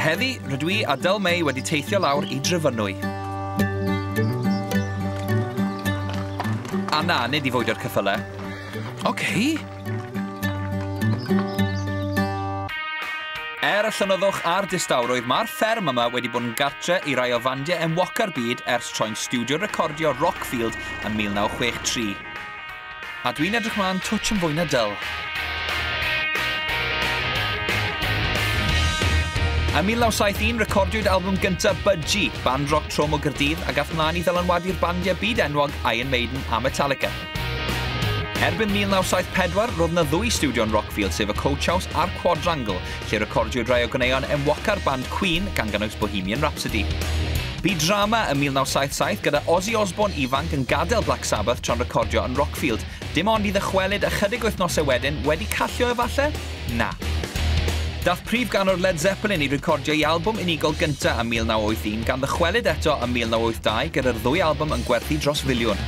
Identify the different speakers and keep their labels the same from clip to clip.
Speaker 1: Heddi, rydw i a Del May wedi teithio lawr i Dryfynwy. A na, nid i fwydo'r cyffyle. Oce. Okay. Er y llonyddwch a'r distawrwydd, mae'r fferm yma wedi bod yn gartre i rai o fandiau enwoca'r byd ers troi'n stiwdio recordio Rockfield ym 1963. A dwi'n edrych mlaen twtsh yn fwy na dyl. Ym 1971, recordiwyd album gyntaf Budgie, band roc trom o Gyrdydd, a gath mlaen i ddylanwadu'r bandiau byd enwog Iron Maiden a Metallica. Erbyn 1974, roedd yna ddwy stiwdio yn Rockfield sef y Coach House a'r Quadrangle, lle recordiwyd rai o ganeuon enwoca'r band Queen, gan gynnwys Bohemian Rhapsody. Bu drama ym 1977 gyda Ozzy Osbourne ifanc yn gadael Black Sabbath tra'n recordio yn Rockfield, dim ond i ddychwelyd ychydig wythnosau wedyn, wedi callio efalle? Na. Daeth prif ganwr Led Zeppelin i recordio'i albwm unigol gyntaf ym 1981 gan ddychwelyd eto ym 1982 gyda'r ddwy albwm yn gwerthu dros filiwn.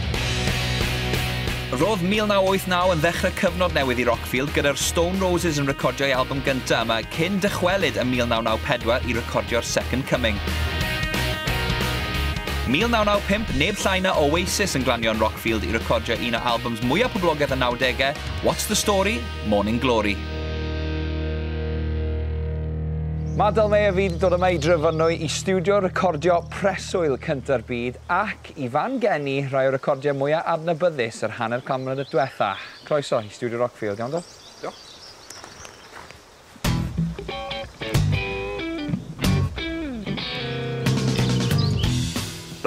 Speaker 1: Roedd 1989 yn ddechrau cyfnod newydd i Rockfield gyda'r Stone Roses yn recordio'i albwm gyntaf yma cyn dychwelyd ym 1994 i recordio'r Second Coming. 1995, neb llai na Oasis yn glanio yn Rockfield i recordio un o albwms mwyaf poblogaidd y nawdegau, What's the Story? Morning Glory. Mae Del Mae a fi 'di dod yma i Drefonwy i stiwdio recordio preswyl cynta'r byd ac i fan gen i rhai o recordiau mwya adnabyddus yr hanner can mlynedd dwetha. Croeso i stiwdio Rockfield, iawn Del? Diolch.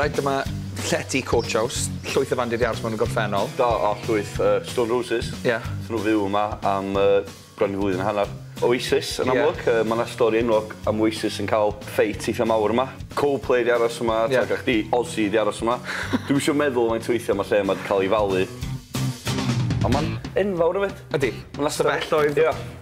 Speaker 1: Reit, dyma llety Coach House, llwyth o fandir iars mewn y gorffennol. Da, a llwyth uh, Stone Roses. Ie. Yeah. Swn nhw fyw yma am uh, bron i flwyddyn hanner. Oasis yn amlwg, yeah. uh, mae yna stori enwog am Oasis yn cael ffeit eitha mawr yma. Coldplay di aros yma, yeah. tag chdi, Ozzy di aros yma. Dwi'n eisiau meddwl mae'n tweithio yma lle mae wedi cael ei falu. A mae'n enfawr o fyd. Ydy. Mae'n lastafelloedd. Ie. Yeah.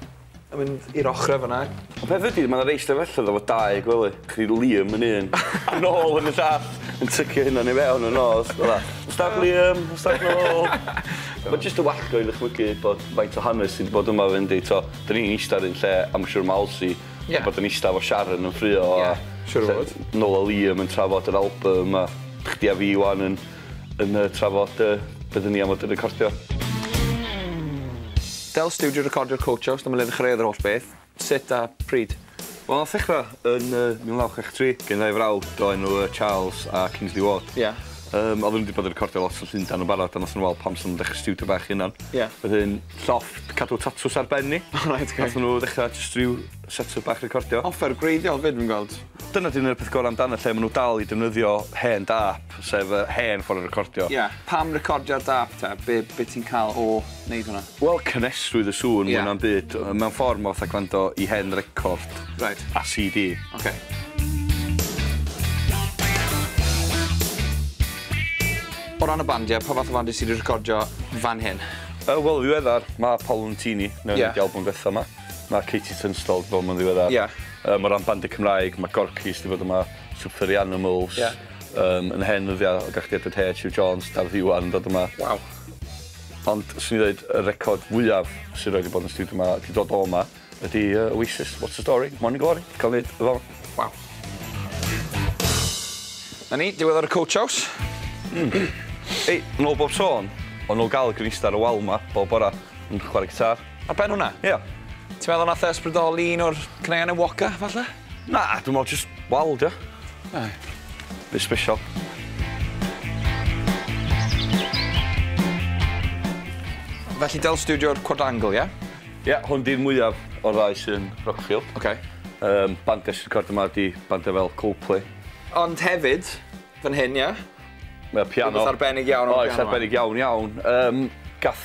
Speaker 1: A mynd i'r ochre fan 'na. Y peth ydi ma' 'na rei stafelloedd efo dau gwely. Chi Liam yn un a Noel yn y llall yn tycio'u hunan i fewn yn nos fela. Stag Liam, stag Noel. Ma' jyst yn wallgo i ddychmygu bod faint o hanes sy 'di bod yma 'fyd yndi t'o' 'dyn ni'n ista ar un lle a ma' siŵr ma' Alsi... Ie. ...yn bod yn ista efo Sharon yn ffrio a... Ie, siŵr o fod. ...Noel a Liam yn trafod yr albym a chdi a fi ŵan yn yn y trafod yy bydden ni am fod yn recordio. Del Studio recordio'r Coach House, dyma le ddechreuodd yr holl beth. Sut a pryd? Wel, nath ddechra yn yy 1963 gen ddau frawd o enw yy Charles a Kingsley Ward. Ie. Yym oddwn nw 'di bod yn recordio lot yn Llundan yn barod a nathon nw weld pam sa nw'm dechre stiwdio bach 'u hunan. Ie. Wedyn llofft cadw tatws ar ben ni. O reit oce. Nathon nw ddechra jyst ryw set-up bach recordio. Offer gwreiddiol 'fyd fi'n gweld. Dyna 'di un o'r peth gorau amdano lle maen nhw dal i defnyddio hen dâp, sef y hen ffordd o recordio. Ie, pam recordio ar dâp te? Be, be ti'n cael o wneud hwnna? Wel, cynhesrwydd y sŵn yeah. mwy na'm byd. Mewn ffordd mae fatha gwrando i hen record right. a CD. Okay. O ran y bandiau, pa fath o fandiau sydd wedi recordio fan hyn? Uh, Wel, ddiweddar, mae Paul Lentini, neu'n yeah. di album bethau yma. Mae Katie Tunstall 'di bod yma'n ddiweddar. Ie. Yym o ran bandiau Cymraeg, mae Gorky's 'di bod yma, Super Furry Animals. Ie. Yym yn hen ddyddiau oeddach chdi Edward Heard, Huw Jones, Dafydd Iwan yn dod yma. Waw. Ond 'swn i'n ddeud y record fwyaf sy rioed 'di bod yn y stiwdio 'ma, 'di dod o 'ma, ydi yy Oasis, What's the Story, Morning Glory, ca'l neud y fo. Waw. 'Na ni, diwedd ar y Coach House. Ei, nôl bob sôn, o'n nôl ga'l y gwnista ar y wal 'ma bob bora yn chware gitâr. Ar ben hwnna? Ie. Ti'n meddwl nath e ysbrydoli un o'r caneuon enwoca, falle? Na, dwi'n meddwl jyst wal, dio. Na. Bit special. Felly del studio'r quadrangle, ie? Ie, hwn di'r mwyaf o'r ddau sy'n Rockfield. Oce. Yym, bandiau sy'n recordio yma ydi bandiau fel Coldplay. Ond hefyd, fan hyn, ie? Mae piano. Rhywbeth arbennig iawn am y piano 'ma. Oes, arbennig iawn, iawn. Yym, gath